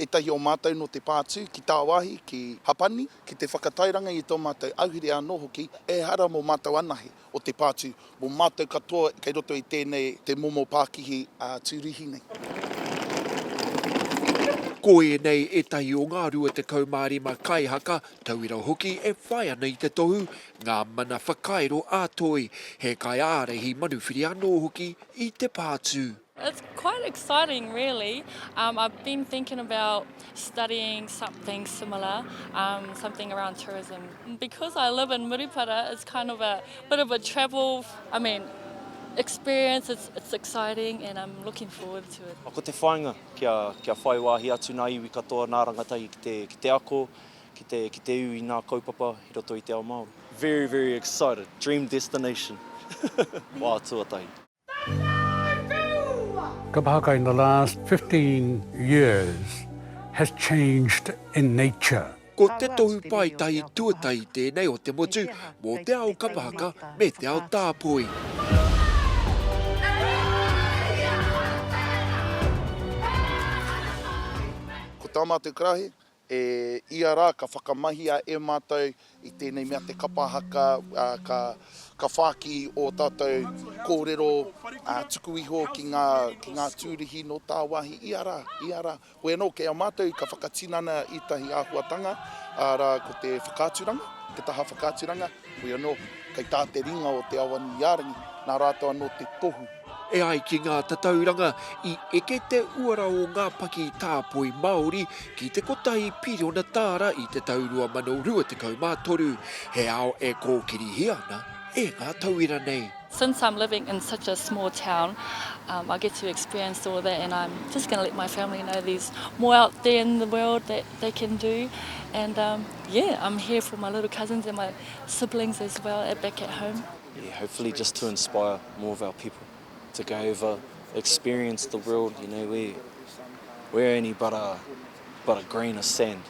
Ētahi o mātou nō te pā tū ki tāwāhi, ki Hapani, ki te whakatairanga i tō mātou ahurea anō hoki, ehara mō mātou anahe o te pā tū, mō mātou katoa kei roto i tēnei te momo pākihi tūruhi nei. Ko ēnei ētahi o ngā 25 kaihaka, tauira hoki e whai ana i te tohu, ngā mana whakairo ā-toi, he kaiārahi manuwhiri anō hoki i te pā tū. It's quite exciting really. Um, I've been thinking about studying something similar, um, something around tourism. Because I live in Murupara, it's kind of a bit of a travel, I mean, experience, it's, it's exciting and I'm looking forward to it. Ko te whainga kia, kia whai wāhi atu nā iwi katoa, nā rangatahi ki te, ki te ako, ki te, ki te iwi nā kaupapa i roto i te ao Māori. Very, very excited. Dream destination. Wā tuatahi. Ka pahakai the last 15 years has changed in nature. Ko te tohu paetahi tuatahi tēnei o te motu mō te ao kapahaka me te ao tāpoi. Ko Tama te karahi, E ia rā, ka whakamahia e mātou i tēnei mea te kapa haka, ka whāki ō tātou kōrero tuku iho ki ngā tūruhi nō tāwāhi. Ia rā, ia rā. Hoi anō, kei a mātou ka whakatinana ētahi āhuatanga, arā, ko te whakaaturanga, te taha whakaaturanga. Hoi anō, kei tā te ringa o Te Awanuiārangi, nā rātou anō te tohu. E ai ki ngā tatauranga, i eke te uara o ngā paki tāpoi Māori ki te kotahi piriona tāra i te tau 2023, he ao e kōkirihia ana e ngā tauira nei. Since I'm living in such a small town, um, I get to experience all that and I'm just going to let my family know there's more out there in the world that they can do and um, Yeah, I'm here for my little cousins and my siblings as well at back at home. Yeah, hopefully just to inspire more of our people to go over, experience the world, you know, we, we're only but a, but a grain of sand.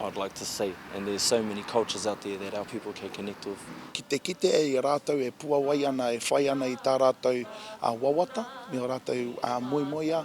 I'd like to say, and there's so many cultures out there that our people can connect with. Ki te kite e i a rātou e puawai ana, e whai ana i tā rātou uh, wawata, me o rātou uh, moemoea,